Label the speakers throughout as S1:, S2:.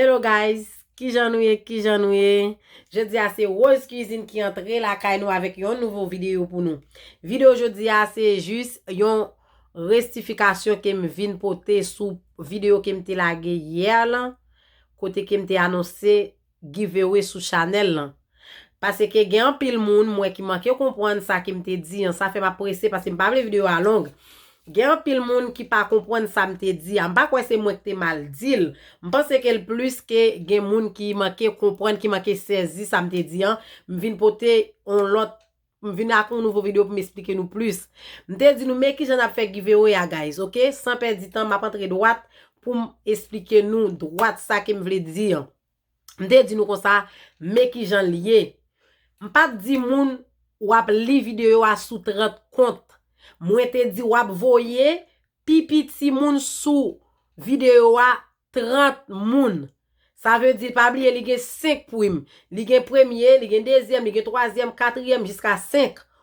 S1: Hello guys kijan nou ye kijan nou ye jodia se rose cuisine ki antre lakay nou avèk yon nouvo video pou nou video jodia se jis yon restifikasyon kem vin pote sou video kem te lage hier lan kote kem te anonse giveaway sou chanel lan Paseke gen anpil moun m wè ki manke konpwann sa ke m te di an. Sa fè m ap prese paske m pa vle video a long. Gen anpil moun ki pa konpwann sa m te di a. M pa kwè se mwen ki te mal di l. M panse ke l plis ke gen moun ki manke konpwann, ki manke sezi sa m te di an. M vin pote yon lòt, m vin ak yon nouvo video pou m esplike nou plis. M te di nou men kijan n ap fè giveaway a guys ok. San pèdi tan m ap antre dwat pou m esplike nou dwat sa ke m vle di an. M te di nou konsa, men ki jan l ye. M pa t di moun w ap li videyo a sou 30 kont. Mwen te di w ap voye pi piti moun sou videyo a 30 moun. Sa vle di, pa bliye li gen 5 prim. Li gen premye, li gen dezyèm, li gen twazyèm, katriyèm jiska 5.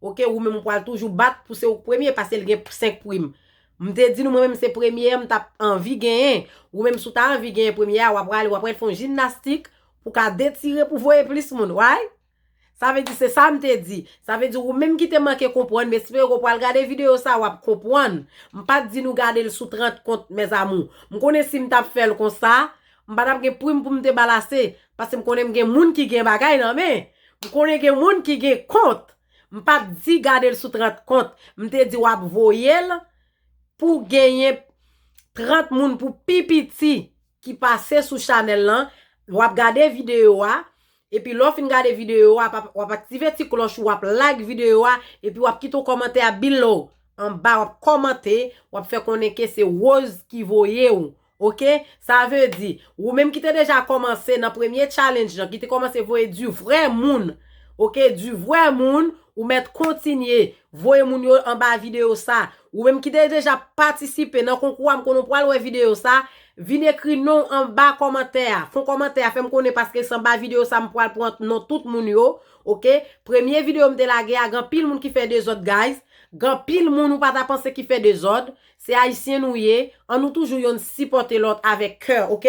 S1: Ok ou menm ou pwal toujou bat pou se ouk premye pase li gen 5 prim m te di nou mwen menm se premye an m tap anvi genyen ou menm sou ta anvi genyen premye a wap prale wap prale fon jimnastik pou ka detire pou voye plis moun way sa vle di se sa m te di sa vle di ou menm ki te manke konpwann m espere ou pwal gade video sa wap konpwann m pat di nou gade l sou 30 kont mes amour m konnen si m tap fèl konsa M pa tap gen prim pou m te ba l ase, paske m konnen m gen moun ki gen bagay nan men. M konnen gen moun ki gen kont. M pa t di gade l sou 30 kont. M te di w ap voye l pou w genyen 30 moun pou pi piti ki pase sou chanèl lan. W ap gade videyo a, epi lè w fin gade videyo a, w ap aktive ti klòch ou, w ap like videyo a, epi w ap kite yon kòmantè a below, anba, w ap kòmante, w ap fè konnen ke se Rose ki voye ou. Ok sa veu di ou menm ki te deja kòmanse nan premye challenge lan ki te kòmanse voye du vrè moun ok du vrè moun ou mèt kontinye voye moun yo anba video sa ou menm ki te deja patisipe nan konkou a m konnen ou pwal wè video sa vin ekri non w anba kòmantè a fon kòmantè a fè m konnen paske se anba video sa m pwal pran non tout moun yo ok premye video m te lage a gen anpil moun ki fè dezòd guys gen anpil moun ou pa ta panse ki fè dezòd Se ayisyen nou ye, an nou toujou yonn sipòte lòt avèk kè ok,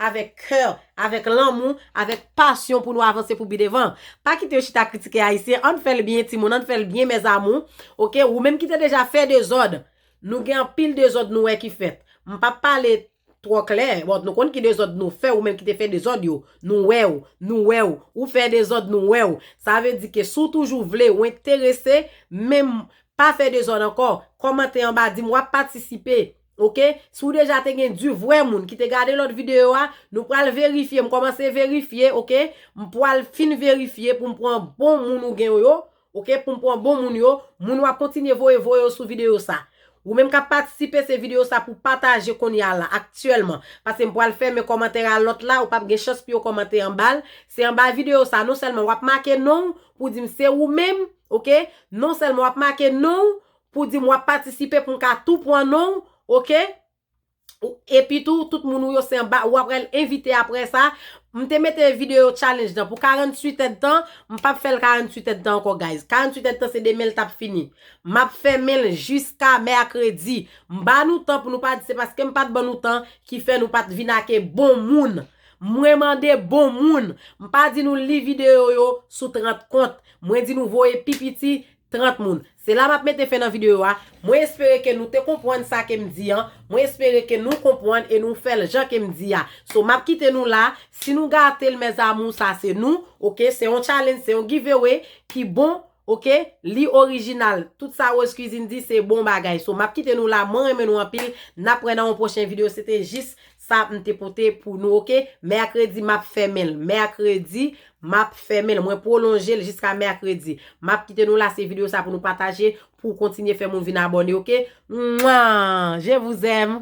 S1: avèk kè, avèk lanmou, avèk pasyon pou nou avanse pou pi devan. Pa kite yo chita kritike ayisyen, ann fèl byen timoun, ann fèl byen mes amour ok, ou menm ki te deja fè dezòd, nou gen anpil dezòd nou wè ki fèt, m pap pale Twò klè, bon nou konn ki dezòd nou fè, ou menm ki te fè dezòd yo, nou wè w, nou wè w, ou fè dezòd nou wè w, sa vle di ke si w toujou vle, ou enterese, menm, pa fè dezòd ankò, kòmante anba di m wap patisipe, ok, si w deja te gen di vrè moun ki te gade lòt videyo a, nou pral verifye, m kòmanse verifye, ok, m pwal fin verifye pou m pran bon moun ou gen w yo, Ok poum pwan bon moun yo. Moun wap kontinye voye voye yo sou video sa. Ou menm kap patisipe se video sa pou pataje konnya la aktyèlman. Paskem pwal fèmen kòmantè a lòt la ou pap gen chans pou yo kòmante anbal. Se anba video sa non sèlman wap make nonw pou dim se ou menm ok non sèlman wap make nonw pou dim wap patisipe poum ka tou pwan nonw ok. Epi tou, tout moun ou yo se anba, ou ap rel envite apre sa. M te mete video challenge nan pou 48 èdtan, m pap fè l 48 èdtan ankò guys. 48 èdtan se demen l tap fini. M ap fèmen l jiska mèkredi. M ba nou tan pou nou pa di se paske m pat ban nou tan ki fè nou pat vin ake bon moun. Mwen mande bon moun. M pa di nou li video yo sou 30 kont. Mwen di nou voye pi piti 30 moun. Se la map mete fen nan video a, mwen espere ke nou te konpwann sa kem di an, mwen espere ke nou konpwann e nou fèl jan kem di a. So map kite nou la, si nou gatel mes amour sa se nou, ok, se yon challenge, se yon giveaway ki bon, ok, li original, tout sa Rose Cuisine di se bon bagay. So map kite nou la, mwen renmen nou anpil, nap wè nan yon pwochen video, se te jis Sa m te pote pou nou ok. Mèkredi m ap fèmen l. Mèkredi m ap fèmen l. Mwen pwolonje l jiska mèkredi. M ap kite nou la se videyo sa pou nou pataje pou kontinye fè moun vin abòne ok. Mwa! Je vous aime!